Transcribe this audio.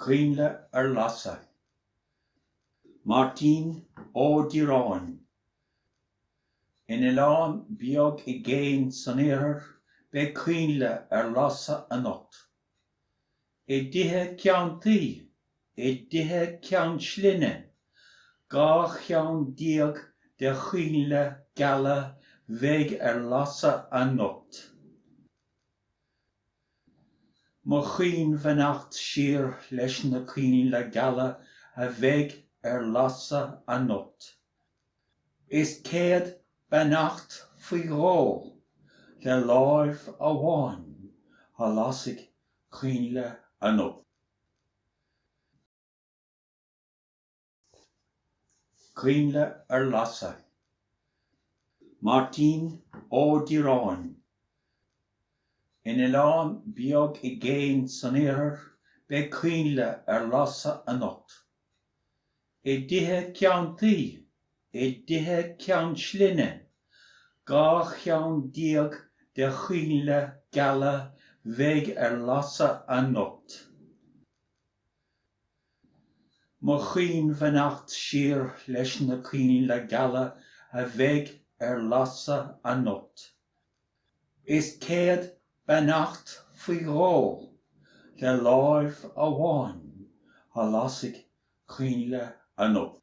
Coinnle ar lasadh. Máirtín Ó Direáin. In oileán beag i gcéin san iarthar beidh coinnle ar lasadh anocht. I dtithe ceann tuí, i dtithe ceann slinne, dhá cheann déag de choinnle geala a bheidh ar lasadh anocht. Mo chaoinbheannacht siar leis na coinnle geala a bheidh ar lasadh anocht. Is céad beannacht faoi dhó le láimh amháin a lasfaidh coinnle anocht. Coinnle ar lasadh. Máirtín Ó Direáin. In oileán beag i gcéin san iarthar beidh coinnle ar lasadh anocht. I dtithe ceann tuí, i dtithe ceann slinne, dhá cheann déag de choinnle geala a bheidh ar lasadh anocht. Mo chaoinbheannacht siar leis na coinnle geala a bheidh ar lasadh anocht. Is céad beannacht faoi dhó le láimh amháin a lasfaidh coinnle anocht.